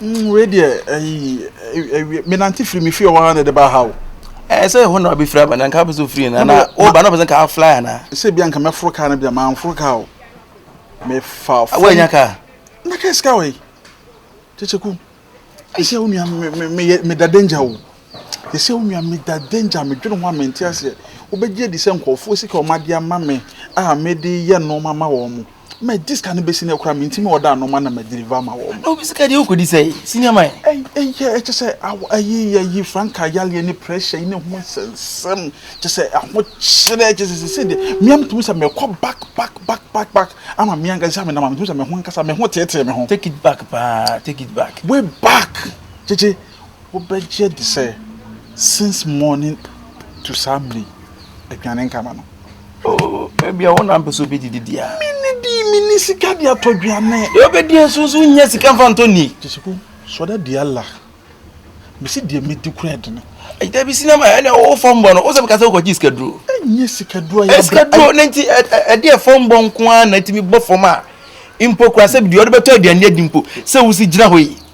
Mm wei deɛ ɛyi ɛwi menante firi me fie wɔ ha na ɛde ba ha o. Ɛɛ sɛ ɛhɔ na wabɛfiri aba na nka wopɛ sɛ ofiri na na woba na wopɛ sɛ nka afly anaa. Sɛ bia nka mɛforo kaa no bia manforo kaa o mefa fam. Woanya kaa? Na kaa sika wɔ yi kyekyeku ɛsɛ wo nua meyɛ meda danger o ɛsɛ wo nua meda danger medwene ho a mente aseɛ wobɛgye adi sɛ nkurɔfoɔ sika wɔn adeɛ ama me a mede yɛ nneɛma ma wɔn mo Mɛgye sika no bɛsi no akora me ntimi ɔda ano ma na madeliver ama wɔ ma. Obi sika deɛ wokɔdi sɛ senior man. Ɛyɛ ɛkyɛ sɛ ayi ayi franka yaleɛ ne pressure yi ne ho nsɛnsɛm kyɛ sɛ ahokyerɛ kyɛ sɛ sese deɛ mmea metumi sɛ mɛkɔ back back back back back ama mmea nka sɛ menam a metumi sɛ me ho nkasa me ho teetee me ho. Take it back paa take it back. Way back kyekye wobɛgye adi sɛ since morning to saa mmerɛ yi aduane nka ma no ebi a wona mpɛ sɛ obɛdidi deɛ a mene di mene sika de atɔ aduane deɛ obɛdi nso nso wonya sika mfa ntɔ ni gyesiko sɔda di ala mesi deɛ mɛdi kora ɛdene ɛda bi sinama ɛne wo fɔmbɔ no wo sɛ meka sɛ wokɔgye sikaduro ɛnyɛ sikaduro ayɛ sikaduro ne nti ɛdeɛ fɔmbɔ nko ara na ɛtumi bɔ fam a mpo kora sɛ deɛ ɔde bɛtɔ aduane adi mpo sɛ wosi gyina hɔ yi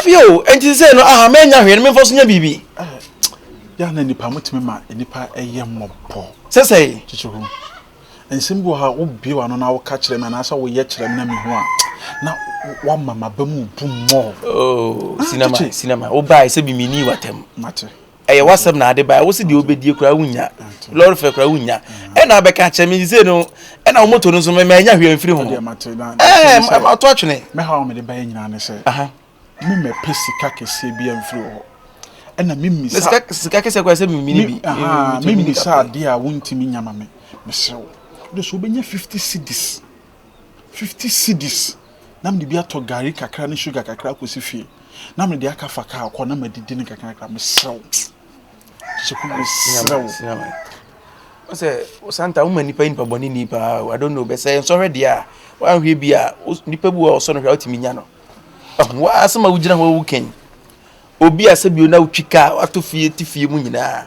Ebi o, enti sese no aha menya hwee no memfa so nya biribi. Yɛ na nipa motumi ma nipa ɛyɛ mmɔbɔ. Sese. Kyekyɛ ho. Nsɛm bi wɔ ha wobie w'ano na woka kyerɛ me anaasɛ woyɛ kyerɛ me na mehu a na wama m'aba mu bu mmɔ. Oh, sinama, sinama. Wobae sɛ bi menni w'atam. Mate. Ɛyɛ w'asɛm na ade bae. Wo se deɛ wobɛdie koraa wonnya. Lɔre fɛ koraa wonnya. Ɛna abɛka akyerɛ me sɛ no ɛna wo moto no nso mɛ mɛnya hwee mfiri ho. Ɛɛ mato atwene. Mɛhaw a mede baeɛ nyinaa ne sɛ memmɛpɛ sika kɛseɛ biara mfiri wo hɔ. Ɛna memmisa. Sika sika kɛseɛ koraa sɛ memmini bi. Memmisa adeɛ a wontumi nya ma me. Mesrɛ wo. Wode so wobɛnya fifty cedis. fifty cedis na mede bi atɔ gari kakra ne sugar kakra akɔsi fie na mede aka fa kaa kɔ na madidi no kakrakra mesrɛ wo kyeku mesrɛ wo ɔsɛ osanta woma nipa yi nipa bɔne ni paa i don't know bɛsɛ nsɔhwɛ deɛ a woanhwɛ bi a nipa bi wɔ ɔsɔ no hwɛ a wotumi nya no woasɛm a wogyina hɔ wokan obi a sɛ bio na wotwi kaa wato fie te fie mu nyinaa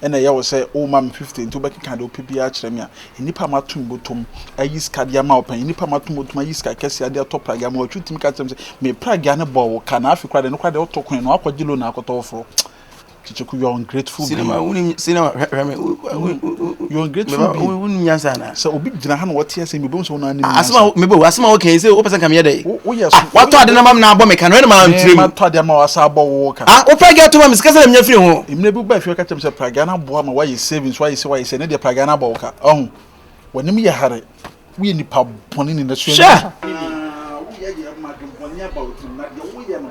Ɛna ɛyɛ wo sɛ worema me fifty nti wobɛkeka deɛ wopɛ biara akyerɛ me a? Nnipa a mato me bɔtɔm ayi sika de ama wo pɛn, nnipa a mato me bɔtɔm ayi sika kɛseɛ de atɔ pragea ama wo, ɛtwe tumi ka kyerɛ me sɛ me pragea no bɔɔ wo ka na afei koraa deɛ no koraa deɛ woto kwan na woakɔgye loan akɔtɔ foforɔ. Kyekyekoo, you are ungrateful being. Cinema, wonim cinema? Hwɛ, hwɛ me, wo, wo, wo, wo, You're ungrateful meba, being. wo, wonim nyansa anaa? Sɛ obi gyina ha na ɔte asɛm bi, obehu sɛ wo na anim nyansa. Asɛm a mebɔ, asɛm a woka yi, sɛ wopɛ sɛ nka meyɛ dɛ? Woyɛ so. Watɔ ade no ama me na abɔ me ka no, ɛna maa nkyerɛ mu. Matɔ ade ama wo asa abɔ wo ka. Ah, wo pragea atom ama me sika sɛ na menya firi ho. Mmerɛ bi wobaa fie bɛka kyerɛɛ me sɛ pragea no aboa ma woayɛ savings, woayɛ sei, woayɛ sei, ɛnnɛ deɛ pragea no abɔ wo ka. Ɔho, w'anim yɛ hare, woyɛ nipa bɔne, nnidasoɔ nni wo ho. Hwɛ! Aa, woyɛ yɛ mma adwembɔne aba wo tirim, na deɛ woyɛ no,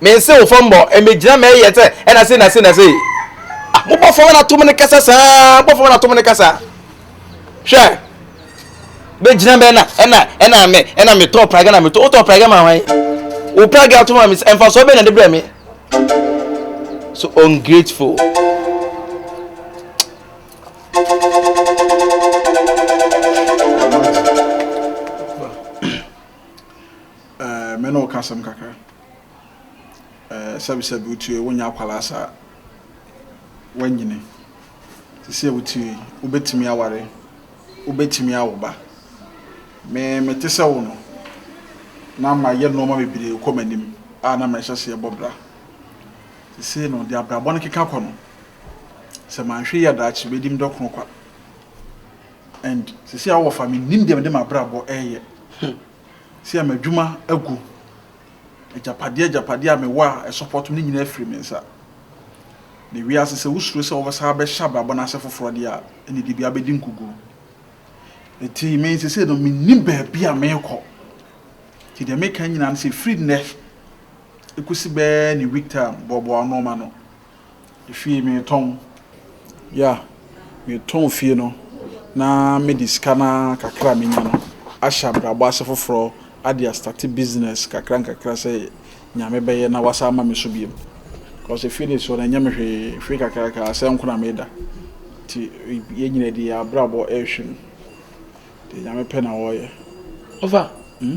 Me nse wo fam bɔ me gyina mɛ yɛ sɛ ɛna se na se na se ah mo bɔ fam na to mo ne kasa saa bɔ fam na to mo ne kasa hwɛ bɛ gyina mɛ na ɛna ɛna mɛ ɛna me tɔ praga na me tɔ o tɔ praga ma hwan o praga to ma me ɛnfa so bɛ na de brɛ me so ungrateful. Eh, me ne wo ka asɛm kakra Eh, sɛbesɛbe wotue, wonyɛ akwadaa saa Woanyini sisi a wotue, wobɛtumi aware Wobɛtumi awo ba Me, mete sɛ wo no na mayɛ nnoɔma bebree rekɔ m'anim a na merehyɛ aseɛ bɔ bra Seesei no, deɛ abrabɔ no keka kɔ no Sɛ manhwɛ yie a daakye bɛdi me dɔ koro kwa And seesei a wowɔ fa mennim deɛ mede m'abrabɔ reyɛ Sia m'adwuma agu. Agyapadeɛ agyapadeɛ a mewɔ a ɛsɔpɔto me no nyinaa afiri me nsa. Na ewiee ase sɛ wosuro sɛ wobɛsan abɛhyɛ abrabɔ no ase foforɔ deɛ a, ɛnneɛ de biara bɛdi nkoguo. Enti me seesei no, mennim baabi a merekɔ. Enti deɛ mereka nyinaa ne sɛ, firi nnɛ kɔsi bɛyɛ ne week time, boaboa wo nnoɔma ano. Fie metɔn, yeah, metɔn fie no na mede sika no ara kakra a menya no ahyɛ abrabɔ ase foforɔ de astate business nkakra nkakra sɛ nea mɛbɛyɛ na wɔasan ama me so bio. Cos fie deɛ ɛsoɔ no ɛnyɛ me hwee, fie kakraka ara sɛɛ nko na meda nti yɛn nyinaa de yɛn abrabɔ ɛrehwɛ mu. Deɛ Nyame pɛ na ɔyɛ. Ɔfa, hmm.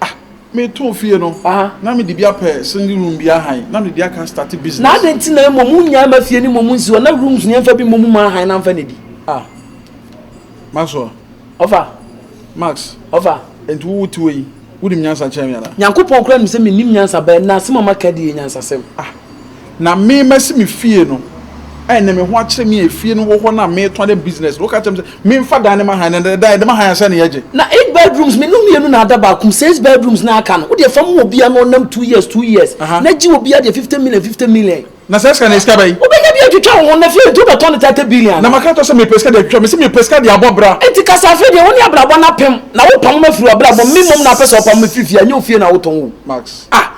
Ah me too fie no na me de bi apɛ single room bi ahan na me de di aka start business. Na adan ti na emu mu nyaa ma fie ni mu mu nsi hɔ na rooms ni ɛnfa bi mu mu ma ahan na nfa na di. Ah Maxwell. Ɔfa. Max. Ɔfa. Nti wo wo ti wɔ yi wo nim nyansa kyɛn me ana. Nyankopɔn kura nim sɛ me nim nyansa bɛɛ na asem a ma ka di yɛ nyansa sɛm. Ah. Na me masi me fie no, ɛn na me ho akyerɛ me a efie no wɔ hɔ na metɔn dɛ business no, woka kyerɛ me sɛ memfa dan no ma hann, na dan de ma hann a sɛn na yɛgye? Na eight bedrooms me no mmienu na ada baako mu, six bedrooms na aka no, wodeɛ fa ma obia na ɔnam two years two years, na gye obia deɛ fifty million fifty million. Na saa sika no yɛ sika bɛn? Wobɛnya bi atwitwa wo ho, na fie deɛ wobɛtɔn no thirty billion anaa? Na maka ato sɛ mepɛ sika de atwitwa, mese mepɛ sika de abɔ bra. Enti ka sɛ afei deɛ wone abrabɔ no apem, na wopamo me afiri w'abrabɔ mu, me mmom na wopɛ sɛ wopamo me firi fie a, ɛnyɛ wo fie na wotɔn o. Max. Ah!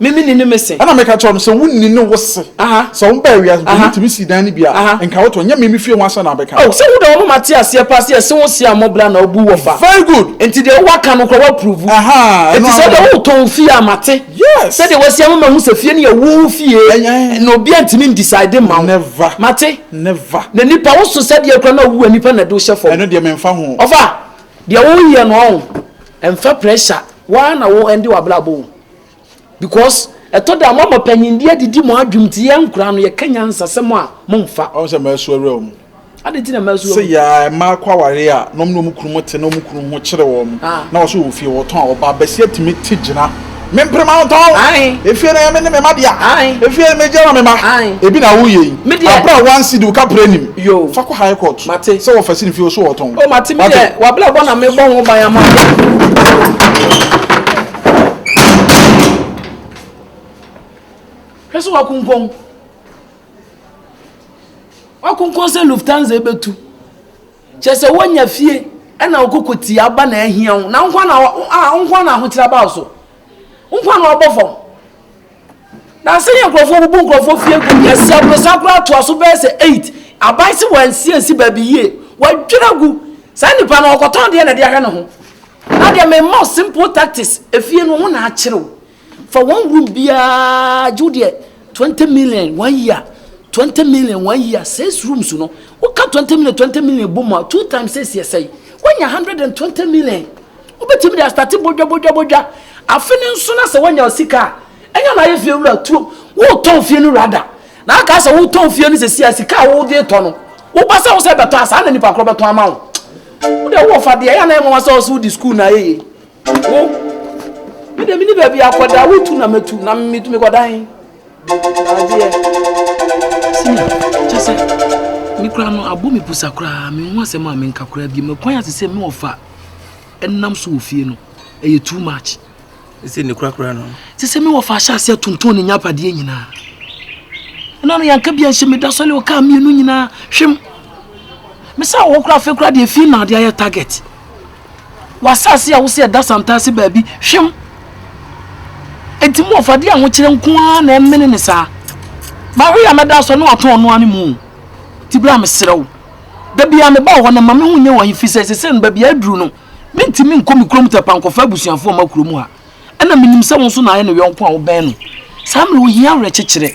Me menni ne me se. Ɛna meka kyerɛɛ no sɛ, Wonni ne wo se. Sɛ wobaa wiase mpo, wotumi sii dan no bi a, nka woto, ɛnyɛ me me fie ho asɛm na mebɛka. Oh, sɛ woda hɔ ma mate aseɛ paa sɛ yɛse wo se a mmɔ bra na wobu wɔ fa. Very good. Enti deɛ woaka no koraa woapuruvu. Ahaa, ɛno ara. Enti sɛ wode woretɔn wo fie a mate. Yes. Sɛdeɛ woasi ama mahu sɛ fie no yɛ wo fie na obiara ntumi ndecide mma wo. Never. Mate? Never. Na nipa, wo so sɛdeɛ koraa na wowu a nipa na ɛde wo hyɛ fam. Ɛno deɛ memfa ho. Ɔfa, deɛ woreyɛ no ɔho, ɛmfa pressure, wo ara na wo ɛnde w'abrabɔ o. Because ɛtɔ da a moama panyindie adidi mo adwem nti yɛn nkoraa no yɛka nyansasɛm a momfa. Ɔn sɛ mɛsu awura wɔn mu. Adɛn nti na mɛsu wɔn mu? Sɛ yaa mmaa kɔ awareɛ a na wɔn ne wɔn kununom te na wɔn kununom ho kyere wɔn na wɔso wɔ fie wɔtɔn a ɔbaa basia tumi te gyina me mpere ma mentɔn efie no ɛyɛ me ne me mma dea efie no megye ma me mma ebi na woyɛ yi abere a one cedi woka pere nim fa kɔ high court sɛ wɔfa si ne fie wɔso wɔtɔn. O mate me deɛ wabere abɔ na mebɔ ho ban ama wo. Hwɛ sɛ wakunkɔn. Wakunkɔn sɛ Lufthansa bɛtu. Kyɛ sɛ wonya fie ɛna wokoko tia aba na ahia wo. Na nkwa na a nkwa na ahokyerɛ aba wo so. Nkwa na wabɔ fam. Na sɛnea nkurɔfoɔ bubu nkurɔfoɔ fie gu yɛsi aborosan koraa toa so bɛyɛ sɛ eight aban si wɔansi ansi baabi yie wɔadwira gu saa nipa no ɔkɔtɔn deɛ na ɛde ahwɛ ne ho na deɛ mema simple tactics efie no ho na akyerɛw fa wɔn room biara gye deɛ twenty million one year twenty million one year six rooms no woka twenty million twenty million bom a two times six yɛ sɛn wonya hundred and twenty million. Wobɛtumi de astate bodwabodwabodwa afe no nso na sɛ woanya sika a, ɛnyɛ na ayɛ fie wura tuo. Woretɔn fie no wura da. Na aka sɛ wotɔn fie no sɛsi a sika a wode retɔ no, woba sɛ wo sɛ bɛtɔ a saa na nipa korɔ bɛtɔn ama wo. Wo deɛ wowɔ fadeɛ, ɛyɛ a na ɛyɛ nwanwa sɛ wo sɛ wodi sukuu na ayɛ yie. Wo, me deɛ menni baabi akɔ da, wotu na mɛtu na metumi kɔdan. Adeɛ. Senior, kyɛ sɛ me koraa no abɔ me pusa koraa menhu asɛm a menka koraa bio makwan ase sɛ me ɔfa ɛnam so wɔ fie no ɛyɛ too much ɛsɛ ne kura koraa no te sɛ me ɔfa ahyɛ aseɛ tonton ne nyapadeɛ nyinaa ɛna no yɛnka bia nhyɛ meda sɔle ɔkaa mmienu nyinaa hwem me sɛ wɔ koraa afei koraa deɛ fie na adeɛ ayɛ target w'asase a wo sɛ ɛda santaase baabi hwem. Enti mo ɔfade a mokyerɛ nko ara na ɛmene ne saa. Mawe a mɛda asɔ ne watɔn ɔno ara ne mu. Ti bra mesrɛ wo. Da biara meba wɔ hɔ na ma me ho nyɛ wɔ he fi sɛ sesɛ no baabi a aduru no mentumi nkɔ me kurom tɛpa nkɔfa abusuafo ɔma kurom ha. Ɛna menim sɛ wo nso na ayɛ ne yɔnko a wobɛn no. Saa mmerɛ ohia awerɛkyekyerɛ.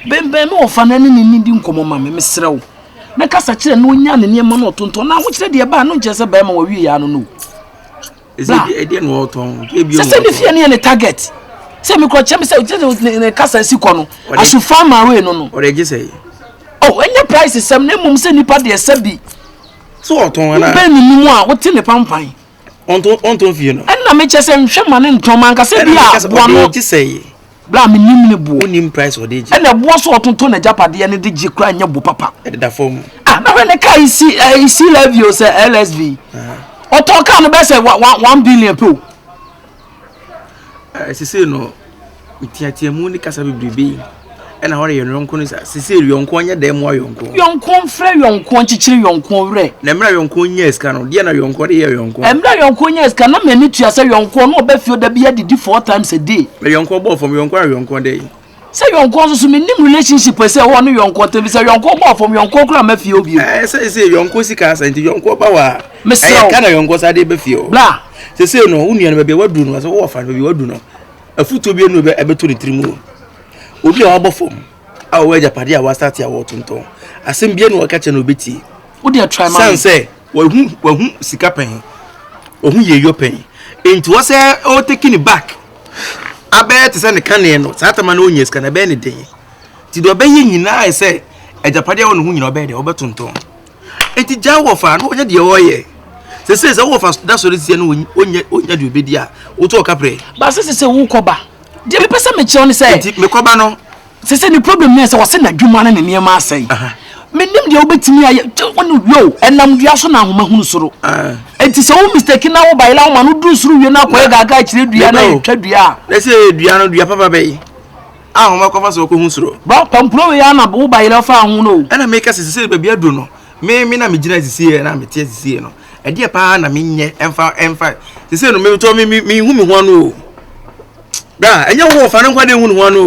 Bɛnbɛn me ɔfa no ɛne ne nnidi nkɔmmɔ ma me, mesrɛ wo. na kasa kyerɛ na ɔnya ne nneɛma no ɔtontɔn na ahokyerɛ deɛ ɛbaa no nkyerɛ sɛ bɛrima wɔwie yaa no no sɛ sɛ ne fie no yɛ ne target sɛ mekorɔ kyɛ me sɛ ne kasa si kɔ no asofa ma wei no no oh, ɛnyɛ price sɛm na mmom sɛ nnipa deɛ sɛ bi wobɛ ne mu a wote ne pampan ɛnna mekyɛ sɛ nhwɛ ma ne ntɔn ma ankasɛ bi a boa no Bere a menim ne boɔ. Wonim price ɔde gye. Ɛna ɛboɔ so ɔtontɔn n'agyapadeɛ ne de gye koraa nyɛ bo papa. Ɛdeda fam. Ah na hwɛ ne kaa yi si ɛɛ eh, si levy o sɛ LSV. Ɔtɔn kaa no bɛsɛ one one billion pe o. Ɛɛ eh, sese no tiatia mu ne kasa bebrebe ɛna hɔ de yɛn yɔnko no sa sese yɔnko nyɛ dɛm wa yɔnko. Yɔnko nfrɛ yɔnko nkyekyere yɔnko werɛ. Na mmerɛ yɔnko nyɛ sika no deɛ na yɔnko de yɛ yɔnko. Mmerɛ yɔnko nyɛ sika na mɛ ne tua sɛ yɔnko no ɔbɛ fie ɔda bi adidi four times a day. Me yɔnkɔ bɔɔ fam yɔnkɔ a yɔnkɔ dɛ. Sɛ yɔnkɔ nso so me nim relationship ɛsɛ ɛwɔ ne yɔnkɔ tɛm sɛ yɔnkɔ bɔɔ fam yɔnkɔ kura mɛ fie obi. Ɛɛ sɛ sɛ yɔnkɔ sika asɛ nti yɔnkɔ ba wa. Mesrɛ o. Ɛyɛ ka na yɔnkɔ sa de bɛ fie o. Bla. Sɛ sɛ no wo nua no bɛ bɛ wadu no asɛ wɔ fa no bɛ wadu no. Afutuo bi enu bɛ ɛbɛ to ne tiri mu o. Obi a wabɔ fam a ɔwɔ agya pade a wasate a wɔtontɔn asɛm bi enu ɔka kyɛ na obetie. Wo deɛ try ma. San sɛ. Wahu wahu sika pɛn. Wahu yeyɔ pɛn. Enti wɔsɛ o take ne back. Abɛyɛ te sɛ ne kaneɛ no. Saa tama no ɔnya sika no ɛbɛyɛ ne den. Ti deɛ ɔbɛyɛ nyinaa yɛ sɛ agyapadeɛ wɔ ne ho nyinaa ɔbɛyɛ deɛ ɔbɛtontɔn. Enti gya wɔfa no ɔnyɛ deɛ ɔyɛ. Sese sɛ wɔfa da sɔre sia no ɔnyɛ ɔnya deɛ ɔbɛdi a wotu ɔka prɛ. Ba sese sɛ wokɔba. Deɛ mepɛ sɛ mekyerɛw ne sɛ. Enti mekɔba no sɛ sɛ ne problem ne sɛ wɔse n'adwuma no ne nneɛma asɛe menim deɛ wobɛtumi ayɛ wone yo ɛnam dua so na ahoma hunu soro ɛnti sɛ wo mistake na wo bayela woma no duru soro wie no akɔyɛ gaaga akyerɛ dua na ɛtwa dua a na sɛ ɛyɛ dua no dua papa bɛyi ahoma kɔfa so wɔkɔhu soro ba pampuro wei ana wo bayela fa ho no ɛna meka sɛ sɛ baabi aduru no me me na megyina asisieɛ na mete asisieɛ no ɛdeɛ paa na menyɛ ɛmfa ɛmfa sɛ sɛ no metɔ mehu me ho ano o bra ɛnyɛ wo wɔfa no nkwa de hu ne ho ano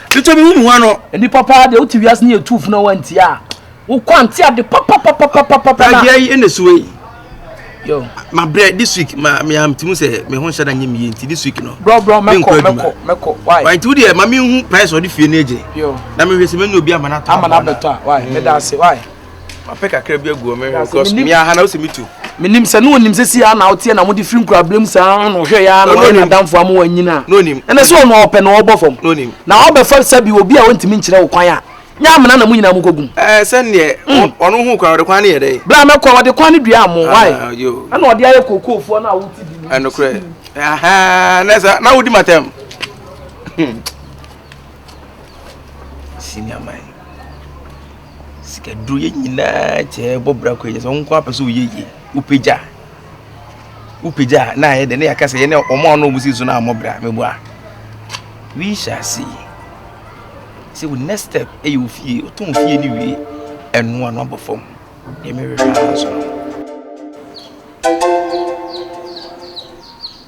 titɔ bi hu ne ho ano nnipa paa deɛ wote wiase ne yɛtu funu wantia a wokɔ ante ade papapapapapapaadeɛ yi ɛna suwe yi mabrɛ this week ma meamtumi sɛ me ho nhyɛ da nyɛ meyɛ nti this week no brɔbrɔ mɛkɔ mɛkɔ mɛkɔ why nti wodeɛ ma menhu price ɔde fie no agye na mehwɛ sɛ mɛnya obi ama no atɔ ama no abɛtɔ a why meda ase why mapɛ kakra bi agu ɔmɛ hwɛ kɔs mi aha na ɔsɛ mi tu. menim sɛ ne ɔnim sɛ si a na woteɛ na mode firi nkuraberɛm saa na ɔhwɛ yɛ na ɔne nadamfo ama wanyina ɛnɛ sɛ ɔno ɔpɛ na ɔbɔ fam na wabɛfa sɛ bi obi a ɔntumi nkyerɛ wo kwan a nyɛ amena na mo nyinaa mokɔgum sɛneɛ hmm. ɔno ho kwan ɔde kwan ne yɛ dɛ bra mɛkɔ ɔde kwan ne dua mo ah, ɛna ɔde ayɛ kookoofoɔ no a wote bi ɛnokorɛ na wodi matam hmm. senior man Sika duro yɛ nyinaa kyɛɛ bɔ bra kɔ yɛ sɛ nko apɛ sɛ ɔyɛ yie wopagya wopagya na ayɛ dɛ ne yɛaka sɛ yɛne wɔn a ɔno wɔn si so no ammɔ bra meboa we shall see sɛ wo next step ɛyɛ ofie wotɔn ofie no wie ɛnoa no abɔ fam deɛ merehwɛ ara nso no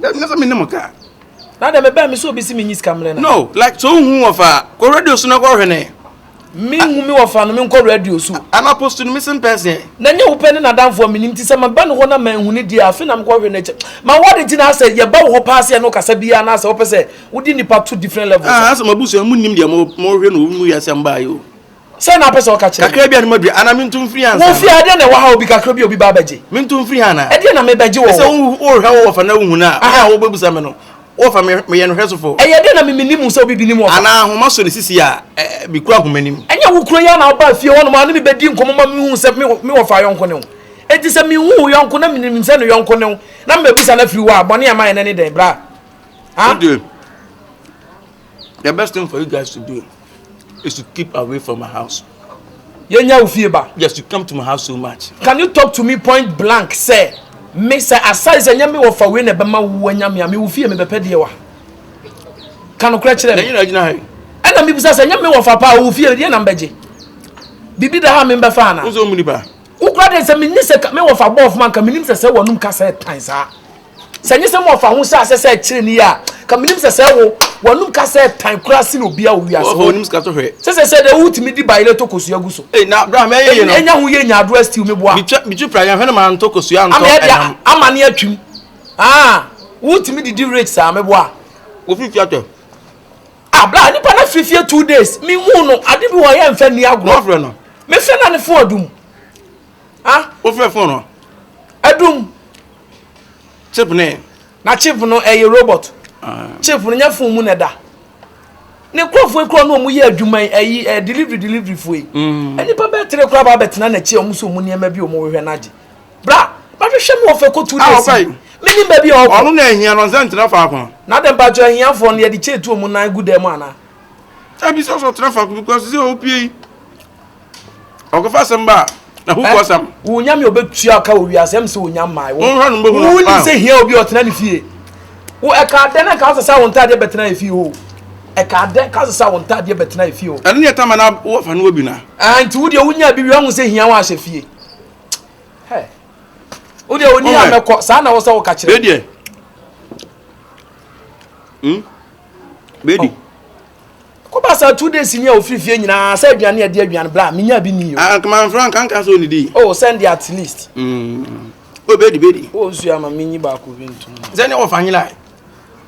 That means I'm in the car. Now that me buy me so be see me niska mle na. No, like so who of a go radio so na go hwene. Me hu me of no me go radio so. An apostle no missing person. Na nye open na dan for me nim ti se ma ba no ho na ma hu ne dia afi na me go hwene che. Ma what the tina say ye ba wo pass ye no kasa bia na say wo pese wo di nipa to different levels. Ah, so ma busu mu nim dia mo mo hwe no mu ya sem ba yo. sɛ na apɛ sɛ ɔka kyerɛ kakra bi anoma bi ana mento mfiri ha wofie adeɛ na ɛwɔ ha obi kakra bi obi ba bɛgye mento mfiri ha na ɛdeɛ na mebɛgye wɔ sɛ wohwɛ wo wɔfa na wohu no a aha wobɛbusa me no wɔfa meyɛ no hwɛ sofo ɛyɛ deɛ na memeni mu sɛ obi bi ni mu anaa ahoma so ne sisi a mekura ahoma nim ɛnyɛ wo kuro yɛ na wobaa fie hɔ nom a ne mebɛdi nkɔmmɔ ma mehu sɛ me wɔfa yɔnko ne wo ɛti sɛ mehu wo yɔnko na menim sɛ no yɔnko ne wo na mebɛbusa no afiri wɔ a bɔne ama yɛ no ne dɛn bra the best thing for you guys to do You should keep away from my house. Yɛnyɛ wo fie ba. Yes, you come to my house so much. Can you talk to me point blank sɛ me sɛ asare sɛ nyɛ me wɔfa wei na ɛbɛma wo wanya me a me wo fie mebɛpɛ deɛ wa ka nokorɛ kyerɛ me ɛna mebisa sɛ nyɛ me wɔfa paa wo fie deɛ na mbɛgye biribi da ha membɛfa ana Wo koraa deɛ sɛ menni sɛ me wɔfa bɔɔfo ma nka menim sɛ sɛ wɔnom ka sɛ tan saa sɛ nye sɛ me wɔfa ho sɛ asɛ sɛ ɛkyerɛ ni a ka menim sɛ sɛ wo wɔnom ka sɛ tan koraa si na obia wo wiase hɔ onim sika to hwɛ sɛ sɛ sɛ deɛ wotumi di baile to kosua gu so ei na bra me ɛyɛ yi no ɛnya ho yɛ nya adoa still me boa bitwa bitwa pra yɛn hwɛ no ma nto kosua nto ɛnam ama ne atwim ah wotumi didi rich saa me boa wofifia tɔ Ah bra nipa na firi fie two days mi hu no ade bi wɔ yɛ nfɛ ni agorɔ. Wafrɛ no. Mi fɛ na ne fon adum. Ah. Wofrɛ fon no. Adum. Chip ne. Na chip no ɛyɛ robot. Ah. Chip no nyɛ fon mu na ɛda. Ne nkurɔfoɔ ekura no wɔn yɛ adwuma yi ɛyi ɛ delivery delivery foɔ yi. Mm. Nipa bɛɛ tere kura ba abɛtena n'akyi a wɔn so wɔn nneɛma bi wɔn hwehwɛ n'agye. Bra, bɛhwehwɛ me wɔ fɛkotu ne asi. Menim baabi a ɔkɔ. Ɔno na ahia no nsɛ ntena faako. Na dɛn mpatsɔ ahiafoɔ no yɛde kyeetu wɔn nan gu dan mu anaa? Dabi sɛ ɔsɔ ɔtena faako because sɛ ɔpie yi ɔkɔfa asɛm ba na hook ɔsɛm. Eh, wo nyame ɔbɛtua ka wɔ wiase ɛm sɛ wo nyam mae wo wonim sɛ hia obi ɔtena ne fie wo ɛka dɛn na nka wosɛ sɛ wo ntadeɛ bɛtena ɛfie hɔ ɛka dɛn ka sɛ sɛ wo ntadeɛ bɛtena ɛfie hɔ ɛno ne ɛtama na wofa no wɔ bi na ah, nti wodeɛ wonya bi wie ɔho sɛ hia wo ahyɛ fie Hey. Wo deɛ ɔni a mɛkɔ saa na wo sɛ woka kyerɛ. Bedeɛ. Hmm? Bedi. Oh. Kɔba saa two days ni a ofiri fie nyinaa sɛ aduane a ɛde aduane bla menya bi ni o. Ah kama nfura nka nka so onidi. Oh send the at least. Mm. Oh bedi bedi. Oh nsu ama menyi baako bi ntum. Sɛ ne wɔfa nyina.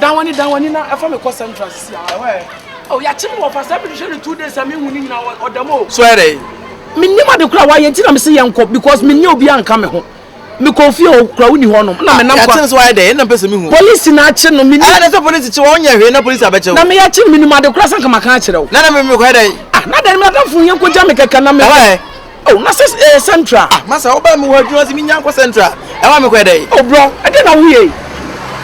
Dan w'ani dan w'ani na ɛfa me kɔ central sisi a. Ɛwɔ ɛ. Oh, yɛakye me wɔ fa sɛ mede hwɛ no two days a menhu ne nyina ɔdam o. So ɛyɛ dɛn? Mennim ade koraa why nti na me se yɛnkɔ because menni obiara nka me ho. Mekɔ ofie hɔ koraa wonni hɔnom ɛna menam kwa. Ah, yɛakye no so ayɛ dɛn? Ɛna mpɛ sɛ mehu. Polisi na akye no mennim. Ɛna sɛ polisi kye wo a wonyɛ hwee na polisi abɛkye wo. Na me yɛakye no mennim ade koraa sɛ anka maka akyerɛ wo. Na na me mekɔyɛ dɛn? Ah, na dɛn me adamfo yɛnkɔgya me kɛkɛ na me. Ɛwɔ ɛ. Oh, na sɛ ɛyɛ central. Ah, masa wo ba mi wɔ adwuma si mi nya nkɔ central. Ɛwa mi kɔ ɛdɛ yi. Oh bro, ɛdɛ na wo yɛ yi.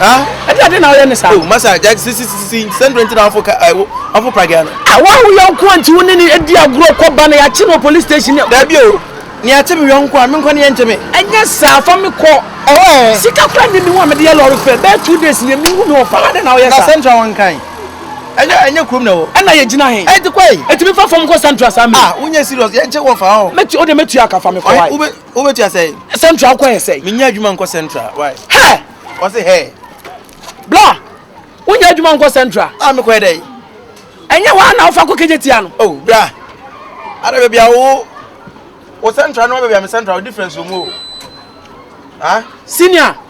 Ah, ɛdɛ ɛdɛ na wo yɛ ne saa. Oh, masa jack si si si si central nti na wafo ka ɛwo wafo pragya no. Ah, wa wo yɛ nko nti wo ne ne edi agorɔ kɔ ba na yɛakye no police station. Dabi o, ne akye mi yɔnko a mi nkɔ ne yɛ nkye mi. Ɛnyɛ saa fa mi kɔ. Ɛwɔ ɛ. Sika kura ni mi wa mi de yɛ lɔri fɛ bɛɛ two days yɛ mi wu mi wɔ fa adɛ na wo yɛ saa. Na central wɔn kan. Ɛnyɛ ɛnyɛ kurom na ɛwɔ. Ɛna yɛ gyina he? Ɛnti kɔ yi. Ɛtumi fa fam kɔ central saa mi. Ah wo nyɛ serious yɛ nkye wɔ fa hɔ. Mɛ tu o de mɛ tua ka fa mi kɔ wai. Ɔhe wo bɛ tua sɛyi. Central kɔ yɛ sɛyi. Mi nyɛ adwuma nkɔ central wai. Hɛ. Ɔse hɛ. Bla wo nyɛ adwuma nkɔ central. Ah mi kɔ yɛ dɛyi. Ɛnyɛ hɔ ana ɔfa kɔ kegye tia no. Oh bra. Ada baabi a wo wo central no baabi a mi central difference wɔ mu o. Ah. Senior.